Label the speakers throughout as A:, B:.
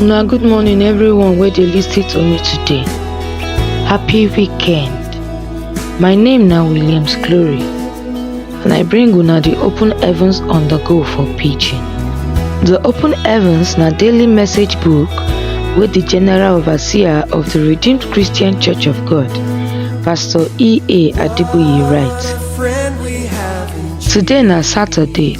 A: Una good morning everyone wey dey lis ten to me today. Happy weekend. My name na Williams Glory and I bring una the open heavens on the go for pidgin. The open heavens na daily message book wey the general overseer of the Redeemed Christian Church of God, Pastor E.A. Adeboye write. Today na Saturday,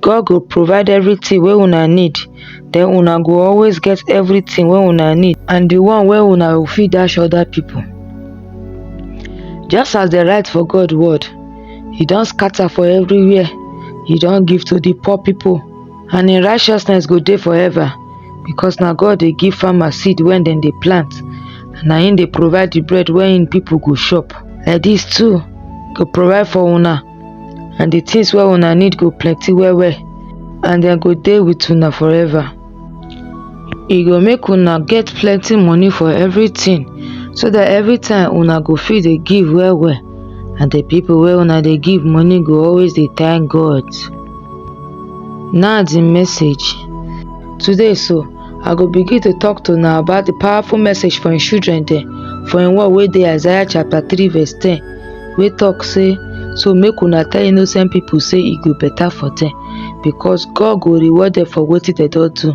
A: God go provide everything wey una need den una go always get everything wey una need and the one wey una go fit dash other people. Just as dem write for God word, e don scatter for everywhere, e don give to the poor people and im righteousness go dey forever because na God dey give farmer seed when dem dey plant and na im dey provide the bread wey im people go chop. Like dis too, go provide for una. and the things where una need go plenty well well and then go there with una forever e go make una get plenty money for everything so that every time una go fit dey give well well and the people where una dey give money go always dey thank god now the message today so i go begin to talk to una about the powerful message for im children dem for im word wey dey isaiah chapter three verse ten wey talk say, So make una tell innocent people say e go better for them because God go reward them for wetin dem don do.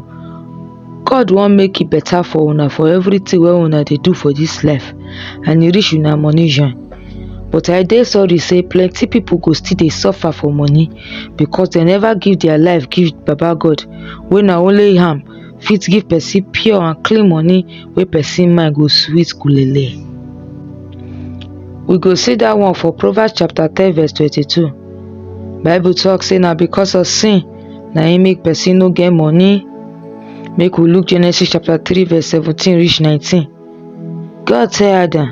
A: God wan make e better for una for everything wey una dey do for this life and e reach una money join. But I dey sorry say plenty people go still dey suffer for money because dem never give their life give Baba God wey na only am fit give person pure and clean money wey person mind go sweet kulele. We go see dat one for Proverbs chapter ten verse twenty-two. Bible talk say na because of sin na im make person no get money. Make we look Genesis chapter three verse seventeen reach nineteen. God tell Adam,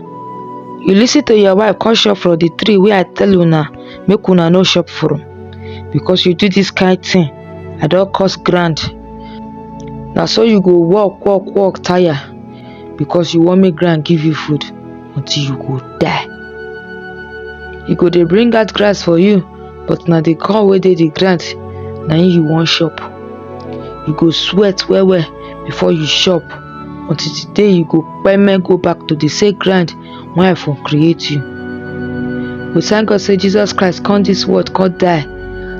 A: You listen to your wife, come shop for the tree where I tell you now, make una no shop for him. Because you do this kind thing, I don't cost grand. Now so you go walk, walk, walk, tire. Because you want me grand give you food until you go die. You go they bring out grass for you, but now they call where they the grant, now you want shop. You go sweat well well before you shop. until the day you go payment go back to the same ground when I for create you. We thank God say Jesus Christ come this world, come die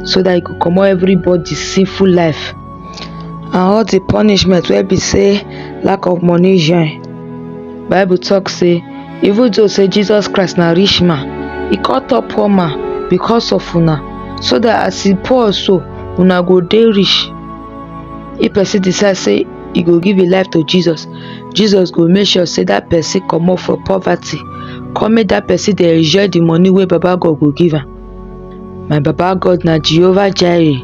A: so that he could come out everybody sinful life and all the punishment wey be say lack of money join. Bible talk say even though say Jesus Christ na rich man, he come turn poor man because of una so that as he poor so una go dey rich if person decide say e go give im life to jesus jesus go make sure say that person comot for poverty come make that person dey enjoy the money wey baba god go give am my baba god na jehovah jireh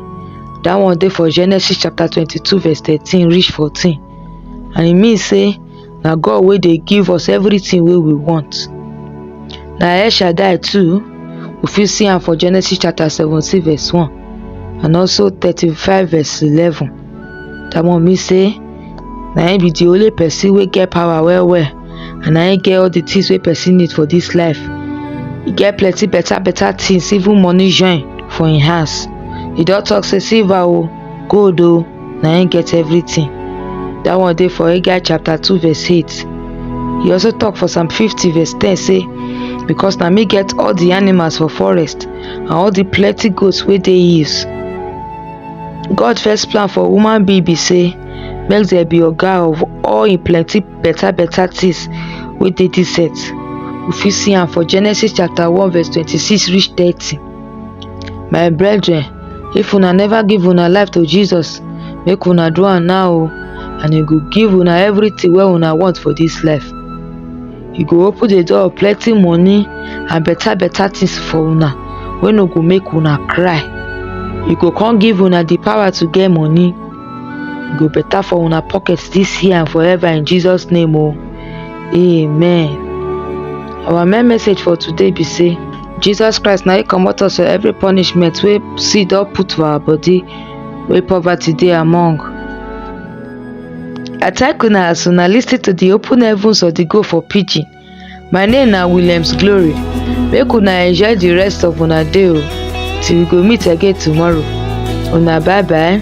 A: that one dey for genesis chapter twenty-two verse thirteen reach fourteen and e mean say na God wey dey give us everything wey we want. Na El Shaddai too, we fit see am for Genesis chapter 17 verse 1 and also 35 verse 11. That one mean say na him be the only person wey get power well well and na him get all the things wey person need for this life. He get plenty better better things even money join for him house. He don talk say silver o, God o oh, na him get everything. That one dey for Haggai chapter 2 verse 8. He also talk for Psalm 50 verse 10 say, Because na me get all the animals for forest and all the plenty goats wey dey hills. God first plan for human being be say make there be oga of all im plenty better better things wey dey dis earth. We fit see am for Genesis chapter 1 verse 26 reach 30. My brethren, if una never give una life to Jesus, make una do am now o and e go give una everything wey una want for this life. E go open the door of plenty money and better better things for una wey no go make una cry. E go come give una the power to get money. E go better for una pocket this year and forever in Jesus name o. Amen. Our main message for today be say Jesus Christ na him comot us for every punishment wey sin don put for our body wey poverty dey among. I thank una as una lis ten to the open heavens of the go for pidgin. My name na Williams Glory. Make una enjoy the rest of una day o till we go meet again tomorrow. Una bye bye.